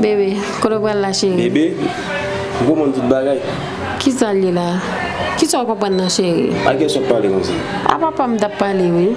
Bebe, kote w pral la cheri? Bebe, ou konprann tout bagay? Kisa l ye la? Kisa w konprann nan cheri? Ak kiyès w ap pale konsa? A papa m t ap pale wi.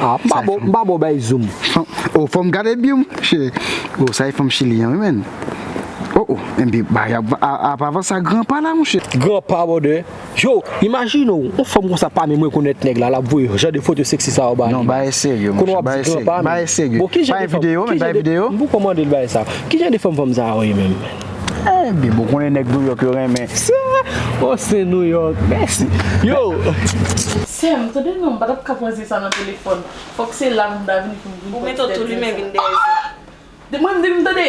Ah m pa bon m pa bon bay zoom. Oh fòm gade bgy m che oh sa e fanm chili an wi menn oh oh ebyn bagay ap avanse a gran pa la monche. Gran pa brother. Yo, imajine w yon fanm konsa pa menm rekonèt nèg la lap voye jan de foto sexy sa yo ba li. Non bagay serye monche, bagay serye, bagay serye. Bon kijan de fanm, kijan de, m poko mandel bagay sa. Kijan de fanm fanm sa yo ye menm? Bibo konnen nèg Nouyòk yo renmen. Sè, o se Nouyòk. Mèsi. Yo! Sè m, tande non, m pa t ap ka pran zen sa nan telefòn. Fòk se la pou m ta vini pou m vin pran ti tèt zen sa. Ahh! Mwen m di m tande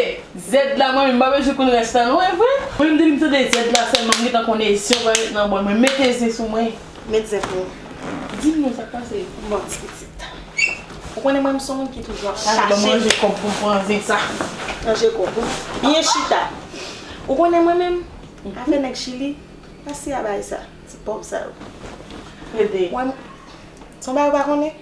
zèd la mwen menm, m pa bezwen konn rès la non, e vre? Mwen m di m tande zèd la sèlman, m gentan konn e zen w pral met nan bòl mwen. Mete zen sou mwen. Met zen pou ou. Di nou sak pase. Bon ti pitit. Ou konnen mwen m son moun ki toujou ap chache. Al banm ranje kob poum pran zen sa. Ranje kob ou. Byen chita. Ou konnen mwen menm. Afè nèg chili. Pase a bay sa. Ti pov sa yo. Pede. Son bagay ou pa konnen.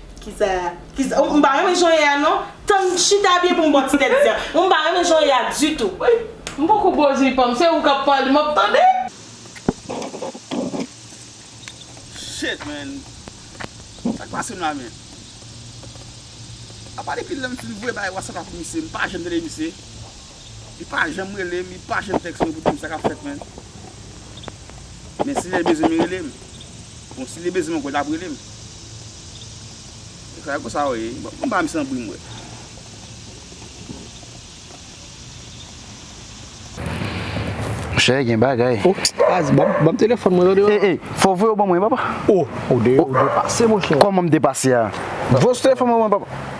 Kisa kisa m pa renmen jan w ye a non tann m chita byen pou m bo ti tèt di an m pa renmen jan w ye a ditou. Woy m poko bo di pa m se ou kap pale m ap tande. Shit man sak pase m la menm apa depi lèm fin voye bagay whatsapp ak misye m pa janm tande misye. Li pa janm relem, li pa janm text mwen pou dim sa kap fèt mwen. Men si lèl bezwen m li relem. Bon si li bezwen m ankò lap relem. Efraim e konsa ou ye? Bon banm san bri m wè. Monchè gen bagay. Oh Spaz banm telefòn mwen tande. Ey ey fò voye w ban mwen papa. Oh ou de pase monchè. Kòman m depase a? Voye telefòn mwen ban mwen papa.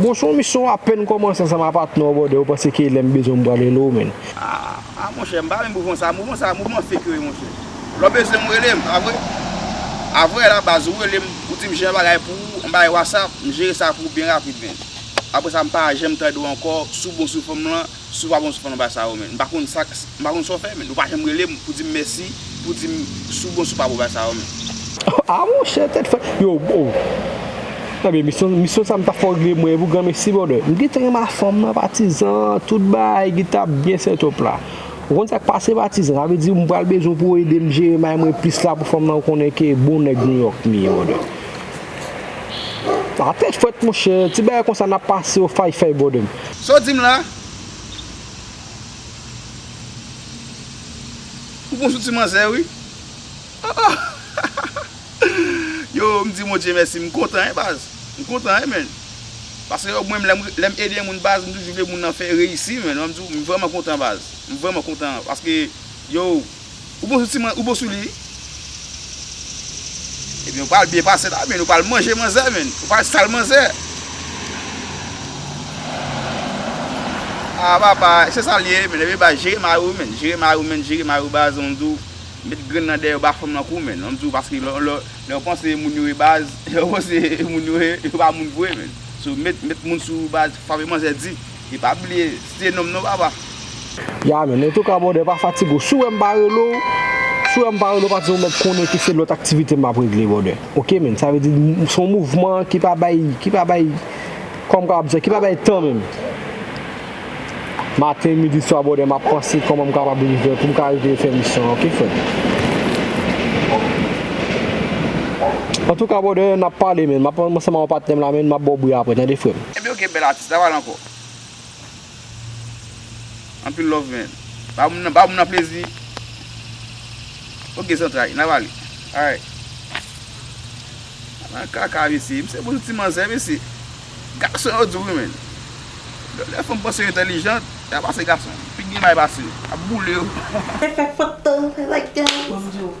Bon son misye ou apèn kòmanse ansanm a patnè ou brother ou panse ke lèm bezwen m pral rele ou menn. Aah monchè m pa renmn mouvman sa, mouvman sa mouvman fake yo ye monchè. Lè w bezwen m rele m, avwe? Avwe la baz ou rele m ou di m jan yon bagay pou ou m bay whatsapp m jere sa pou ou byen rapid menn. Aprè sa m pa janm tande w ankò sou bon sou fòm lan. Si w pa bon sou fon anba sa yo men. M pa konn sa m pa konn sa w fè men. Ou pa janm rele m pou di m mèsi, pou di m si w bon sou pa bon ba sa yo men. Ah monchè tèt fèt yo oh Ebyen misyon misyon sa m ta fò regle mwen pou granmesi brother m gentan gen ma fanm nan patizan tout bagay gita byen setup la ou konn sak pase patizan sa vle di m pral bezwen pou w ede m jere may mwen plis la pou fanm nan ou konnen ke bon nèg New York m ye brother. Ah tèt fwèt monchè, ti bagay konsa nap pase yo fay fay bòdòm. Saw dim la? Ou bon sou ti manzè wi oh oh Yo m di Bondye mèsi m kontan hein baz m kontan hein man paske yo mwen menm lèm ede moun baz m toujou vle moun nan fè reyisi man m di w m vrèman kontan baz m vrèman kontan paske yo Ou bon sou ti man, ou bon sou li wi. Ebyen ou pral byen pase la men, ou pral manje manzè men, ou pral sal manzè. Ah papa, se sal ye men, ebyen ba jere mari ou men, jere mari ou men, jere mari ou baz, m di w, met grenn nan dèyè ou ba fanm nan kou men, m di w paske lè ou panse moun yo e baz, lè ou panse moun yo e, yo pa moun vre men. So met moun sou ou baz, frape manzè di. E pa bliye se nonm non papa. Ya men, en tout cas brother pa fatige w, si w wè m pa rele w, si w wè m pa rele w pa di w men konnen ke se lòt aktivite map regle brother ok men, sa vle di se yon mouvman ki pa bay, ki pa bay kòman m kapab di sa, ki pa bay tan menm. Maten, midi, swa brother map panse kòman m kapab rive pou m ka rive fè misyon an ok frè m. En tout cas brother nap pale men, map ansanm ak yon patnè m la men map ba w bri aprè tande frè m. Ebyen ok bèl atis la pale ankò. Anpil love men. Ba moun nan ba moun nan plezi. Ok zantray na pale. Alright. Ala yon kaka mesye. Misye pou yon ti manzè mesye. Gason yo di wi men. Lè fanm panse yo entèlijant. Yap pase gason. Pi gen may pase yo. Yap boule yo. Fè fè foto. Fè bagay. Bon m di w.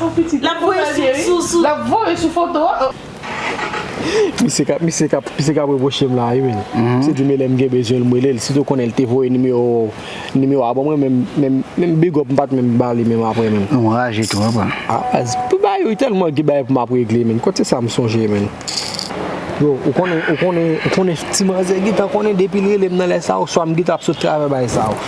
Oh pitit. Lap voye sou foto a. Misye kap misye kap misye kap repwochem la wi menn. Misye di men lèm gen bezwenl m relel sitou konnen l te voye nimewo nimewo a ban mwen menm menm menm big up m pat menm bali menm aprè menn. Ou raje twòp an. Ah baz pou bagay yo tèlman gen bagay pou map regle menn kot se sa m sonje menn. Yo ou konnen ou konnen ou konnen ti manzè gentan konnen depil relem nan lè sa oswa m gentan ap sot travè bagay sa.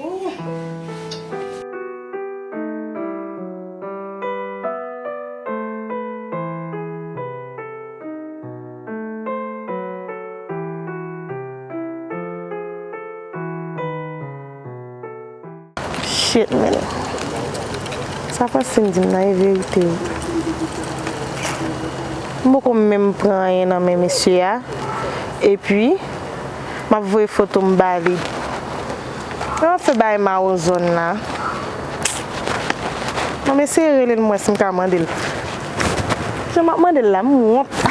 Ooh. Shit man. Sa Francine dim nan e verite wi. M poko menm pran anyen nan men mesye a epi. Map voye foto m ba li. Lè map fè bagay mawozo n la. Bon m eseye rele l m wè si m ka mande l. Jan map mande l la m wont.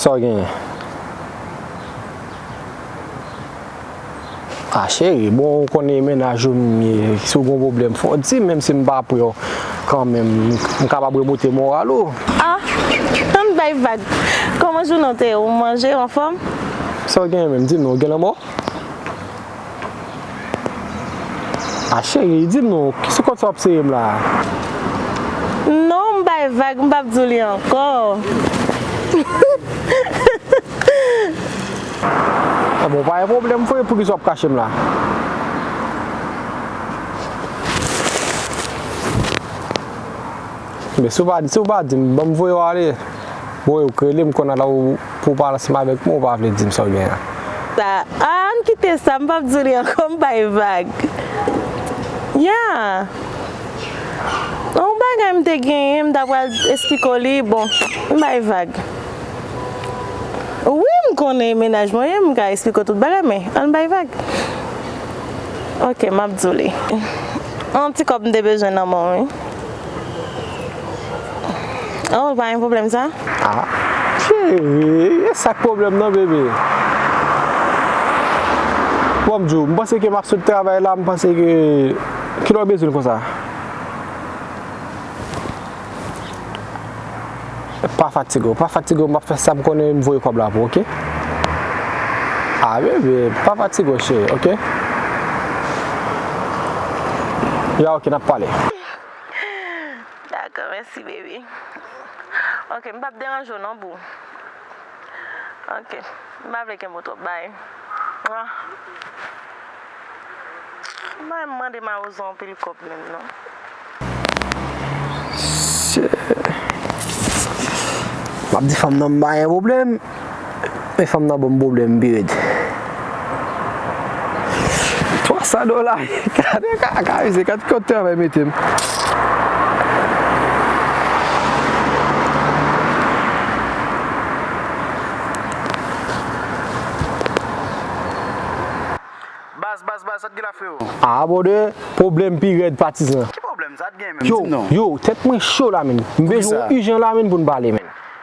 Sa w genyen? Ah cheri, bon ou konnen mennaj ou m ye, si w gen yon pwoblèm fò w di m, menm si m pa pre w kanmenm, m kapab remonte moral ou. Ah! Ann bay vag! Kòman jounen w te ye? Ou manje? Ou anfòm? Sa w genyen menm? Di m non, ou gen lanmò? A cheri, di nou, ki sou kont sa w ap sere m la a? Non, m bay vag, m pap di w li ankò. A bon, pa gen pwoblèm, fouye, pou ki sa w ap kache m la? Men, si w pa di m, ban m voye w ale. Bon, e ou k rele m konn ala ou. Pou w pa ansanm avèk mwen ou pa vle di m sa w gen an. Sa a an n kite sa m pap di w li ankò m bay vag. Ya an yon bagay m te genyen m ta pral esplike w li bon m bay vag. Wi m konnen mennaj mwen m ka esplike w tout bagay men an n bay vag. Ok m ap di w li. Yon ti kòb m te bezwen nan men w wi. Oh pa gen problem sa. Ah chérie esak problem nan bébé bon m diw m panse ke map sot travay la m panse ke kilè w bezwen l konsa pa fatige w pa fatige w map fè sam konnen m voye kob la pou w ok ah bébé pa fatige w chérie ok ya ok nap pale. Dakò mèsi baby Ok m pap deranje w non boo Ok m pa vle kenbe w twòp bye Mwen pa renmn mande mawozo anpil kòb menm non. Men fanm nan banm problème pi red. 300 dola gade kaka mesye gad kot travay metem. Baz baz baz sa t gen la freo. Ah brother problème pi red patizan. Ki problème sa t gen menm dim non. Yo yo tèt mwen cho la menn. M bezwen w urgent la menn poun pale menn.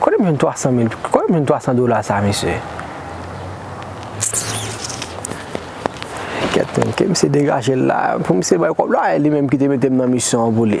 Kote m jwenn 300 mil, kote m jwenn 300 dola sa mesye? Kèt menm, ke misye degaje l la, pou misye bay kòb la, e li menm ki te mete m nan misyon an pou li.